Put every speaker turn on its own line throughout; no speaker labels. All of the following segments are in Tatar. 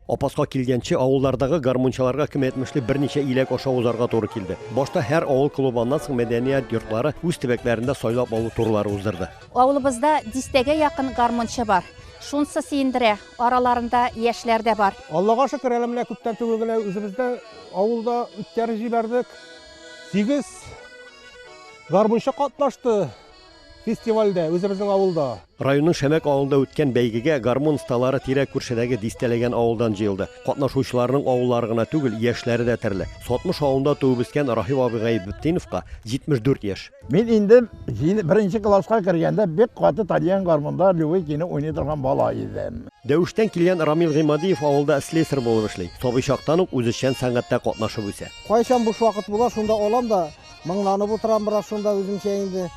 Апаска килгәнче авыллардагы гармунчыларга кем әйтмешли берничә иләк аша узарга туры килде. Башта һәр авыл клубы, аннан соң мәдәният йортлары үз төбәкләрендә сайлап алу турлары уздырды. Авылыбызда
дистәгә якын гармунчы бар. Шунсы сөендерә, араларында яшьләр дә бар. Аллага шөкер, әле менә
күптән түгел генә үзебездә авылда үткәреп җибәрдек. Сигез гармунчы катнашты. Фестивальдә, үзебезнең авылда. Районның Шәмәк
авылында үткән бәйгегә гармун осталары тирә-күршедәге дистәләгән авылдан җыелды. Катнашучыларның авыллары гына түгел, яшьләре дә төрле. Сотмыш авылында туып-үскән Рахил абый Гайбетдиновка 74 яшь. Мин инде
беренче класска кергәндә бик каты таныйм, гармунда любой көйне уйный торган бала идем. Дәвештән килгән
Рамил Гыймадиев авылда слесарь булып эшли. Сабый чактан ук үзешчән сәнгатьтә катнашып үсә. Кайчан буш вакыт була,
шунда алам да Моңланып утырам бераз шунда үземчә инде.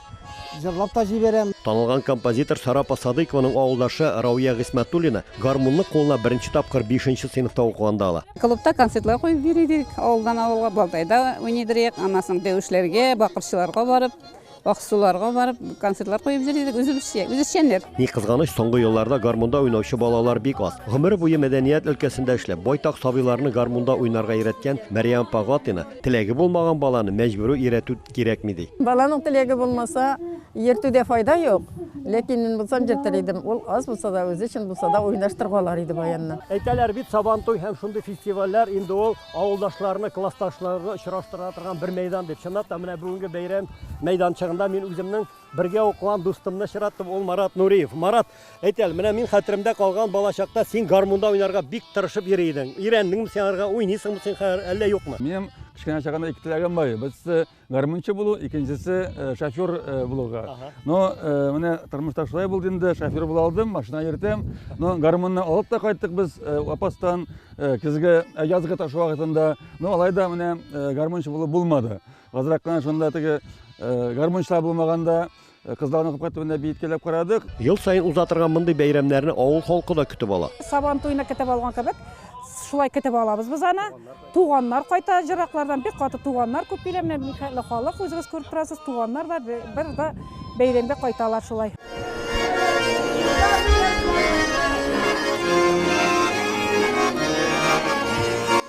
Җырлап та җибәрәм. Танылган композитор
Сарапа Садыйкованың авылдашы Рауя Гыйсмәтуллина гармунны кулына беренче тапкыр бишенче сыйныфта укыганда ала. Клубта концертлар куеп
йөри идек, авылдан авылга, Балтайда уйный идек, аннан соң Дәвешләргә, Бакырчыларга барып, Аксуларга барып концертлар куеп йөри идек, үзебезчә, үз эшчәнлек. Ни кызганыч,
соңгы елларда гармунда уйнаучы балалар бик аз. Гомере буе мәдәният өлкәсендә эшләп, байтак сабыйларны гармунда уйнарга өйрәткән Мәрьям апа Гатина Теләге булмаган баланы мәҗбүри өйрәтү кирәкми, ди. Баланың теләге булмаса,
йөртүдә файда юк. Ләкин мин булсам йөртер идем. Ул аз булса да, үзе өчен булса да уйнаштырып алыр иде баянны. Әйтәләр бит, Сабантуй
һәм шундый фестивальләр инде ул авылдашларны, классташларны очраштыра торган бер мәйдан дип. Чынлап та, менә бүгенге бәйрәм мәйданчыгында мин үземнең Бергә укыган дустымны очраттым, ул Марат Нуриев. Марат, әйт әле, менә мин хәтеремдә калган балачакта син гармунда уйнарга бик тырышып йөри идең. Өйрәндеңме син аларга, уйныйсыңмы син хәзер, әллә юкмы? Минем кечкенә чагымда
ике теләгем бар иде. Берсе гармунчы булу, икенчесе э, шофер э, булуга. Но э, менә тормышта шулай булды инде, шофер була алдым, машина йөртәм. Но гармунны алып та кайттык без э, апастан э, көзге, э, язгы ташу вакытында. Но алай да менә э, гармунчы булу булмады. Азрак кына шунда теге гармунчылар булмаганда кызларны капка төбендә биеткәләп карадык. Ел саен уза торган
мондый бәйрәмнәрне авыл халкы да көтеп ала. Сабан туена көтеп алган
кебек, шулай көтеп алабыз без аны. Туганнар кайта җыраклардан, бик каты туганнар күп килә. Менә Михайлы халык үзегез күреп торасыз, туганнар да бер дә бәйрәмгә кайталар шулай.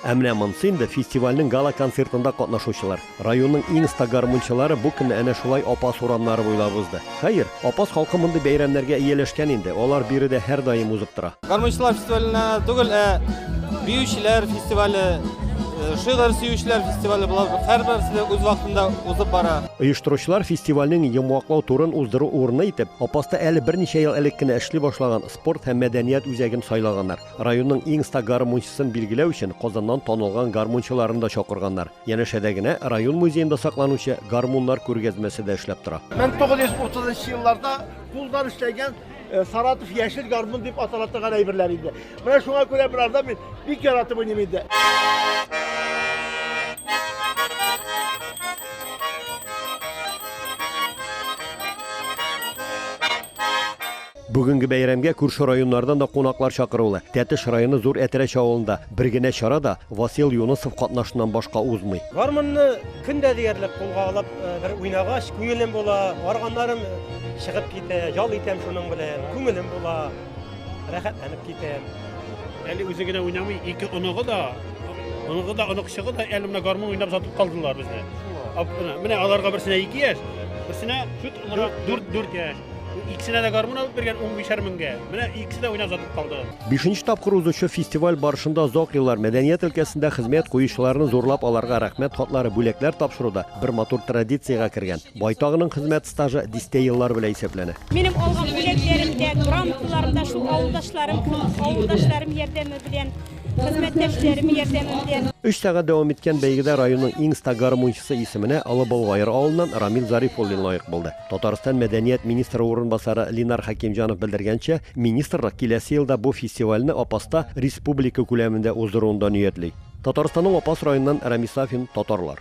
Ә менә монсы инде фестивальнең гала-концертында катнашучылар. Районның иң оста гармунчылары бу көнне әнә шулай Апас урамнары буйлап узды. Хәер, Апас халкы мондый бәйрәмнәргә ияләшкән инде, алар биредә һәрдаим узып тора. Гармунчылар фестиваленә
түгел, ә биючеләр фестивале, э, шигырь сөючеләр фестивале була. Һәрберсе дә үз вакытында узып бара. Оештыручылар фестивальнең
йомгаклау турын уздыру урыны итеп, Апаста әле берничә ел элек кенә эшли башлаган спорт һәм мәдәният үзәген сайлаганнар. Районның иң ста гармунчысын билгеләү өчен Казаннан танылган гармунчыларын да чакырганнар. Янәшәдә генә район музеенда сакланучы гармуннар күргәзмәсе дә эшләп тора. 1930 нчы
елларда кулдан эшләнгән Саратов яшел гармун дип атала торган әйберләр иде. Менә шуңа күрә берарда мин бик яратып уйныйм инде.
Бүгенге бәйрәмгә күрше районнардан да кунаклар чакырулы. Тәтеш районы Зур Әтрәч авылында бер генә чара да Васил Юнысов катнашыннан башка узмый. Гармунны көн
дә диярлек кулга алып бер уйнагач, күңелем була, арганнарым чыгып китә, ял итәм шуның белән, күңелем була, рәхәтләнеп китәм. Әле үзе
генә уйнамый, ике оныгы да, оныгы да, оныкчыгы да әле менә гармун уйнап озатып калдылар безне. Менә аларга берсенә ике яшь, берсенә дүрт яшь. Икесенә дә гармун алып биргән 15 меңгә. Менә икесе дә уйнап сатып калды. Бишенче тапкыр узучы
фестиваль барышында озак еллар мәдәният өлкәсендә хезмәт куючыларны зурлап аларга рәхмәт хатлары, бүләкләр тапшыру да бер матур традициягә кергән. Байтагының хезмәт стажы дистә еллар белән исәпләнә. Минем алган
бүләкләрем дә, грамоталарым да шул авылдашларым, авылдашларым ярдәме белән, хезмәттәшләрем ярдәме белән. Өч сәгать дәвам иткән
бәйгедә районның иң оста гармунчысы исеменә Олы Болгайыр авылыннан Рамил Зарифуллин лаек булды. Татарстан мәдәният министры урынбасары Линар Хәкимҗанов белдергәнчә, министрлык киләсе елда бу фестивальне Апаста республика күләмендә уздыруны да ниятли. Татарстанның Апас районыннан Рамис Сафин, Татарлар.